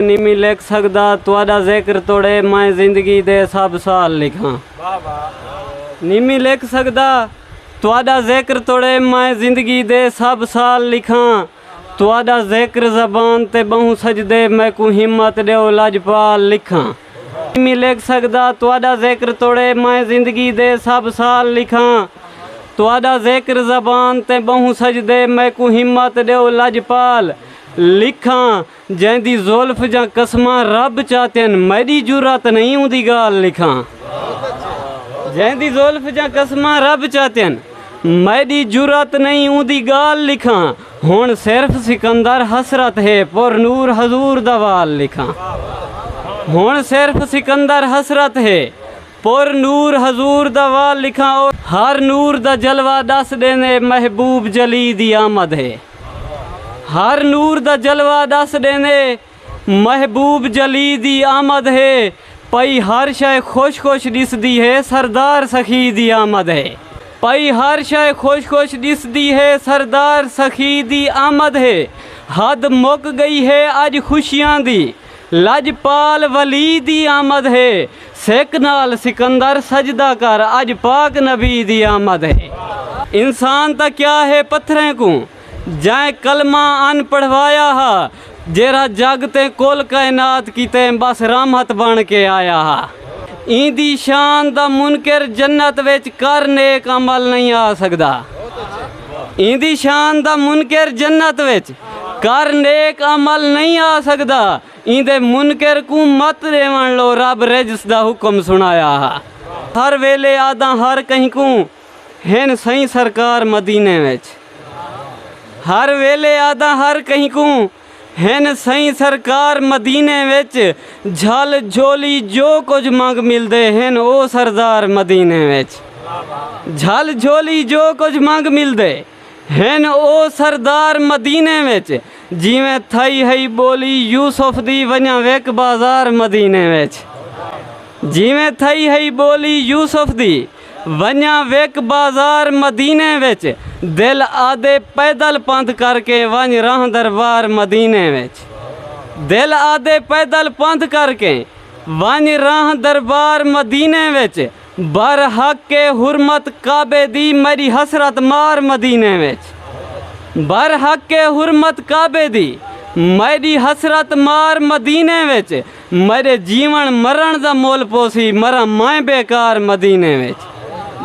نیمی لکھ سگدا تہاڈا ذکر توڑے میں زندگی دے سب سال لکھاں نیمی لکھ سگدا تہاڈا ذکر توڑے میں زندگی دے سب سال لکھاں تہاڈا ذکر زبان تے بہوں سجدے میں کو ہمت ڈیو لجپال لکھاں نیمی لکھ سگدا تہاڈا ذکر توڑے میں زندگی دے سب سال لکھاں تہاڈا ذکر زبان تے بہوں سجدے میں کو ہمت ڈیو لجپال لکھاں جئیں دی زلف جاں قسماں رب چاتین میڈی جرات نہیں اوندی گالھ لکھاں جئیں دی زلف جاں قسماں رب چاتین میڈی جرات نہیں اوندی گالھ لکھاں ہن صرف سکندر حسرت ہے پر نور حضور دا وال لکھاں ہن صرف سکندر حسرت ہے پر نور حضور دا وال لکھاں ہر نور دا جلوہ ڈس ڈیندے محبوب جلی دی آمد ہے۔ ہر نور دا جلوہ ݙس ݙیندے محبوب جلی دی آمد ہے پئی ہر شئے خوش خوش ݙسدی ہے سردار سخی دی آمد ہے پئی ہر شئے خوش خوش ݙسدی ہے سردار سخی دی آمد ہے حد مک ڳئی ہے اڄ خوشیاں دی لجپال ولی دی آمد ہے۔ سک نال سکندر سجدہ کر اج پاک نبی دی آمد ہے۔ انسان تاں کیا ہے پتھریں کوں۔ جئیں کلمہ ان پڑھوایا ہا۔ جیرھا جگ تے کل کائنات کیتے بس رحمت بن کے آیا ہا۔ ایندی شان دا منکر جنت وچ کر نیک عمل نئیں آ سگدا۔ ایندی شان دا منکر جنت وچ کر نیک عمل نہیں آ سکدا ایندے منکر کوں مت ڈیون لو رب رجس دا حکم سنایا ہا ہر ویلے آداں ہر کہیں کوں ہن سائیں سرکار مدینے وچ ہر ویلے آداں ہر کہیں کوں ہن سئیں سرکار مدینے وچ جھل جھولی جو کجھ منگ ملدے ہن او سردار مدینے وچ جھل جھولی جو کجھ منگ ملدے ہن او سردار مدینے وچ جیویں تھئی ہئی ٻولی یوسف دی ونجاں وک بازار مدینے وچ جیویں تھئی ہئی ٻولی یوسف دی ونڄاں وک بازار مدینے وچ دل آدھے پیدل پندھ کر کے ونڄ راہ دربار مدینے وچ دل آدھے پیدل پندھ کر کے ونڄ راہ دربار مدینے وچ بر حق اے حرمت کعبے دی میݙی حسرت مار مدینے وچ بر حق اے حرمت کعبے دی میݙی حسرت مار مدینے وچ میݙے جیوݨ مرݨ دا مل پوسی مراں میں بیکار مدینے وچ۔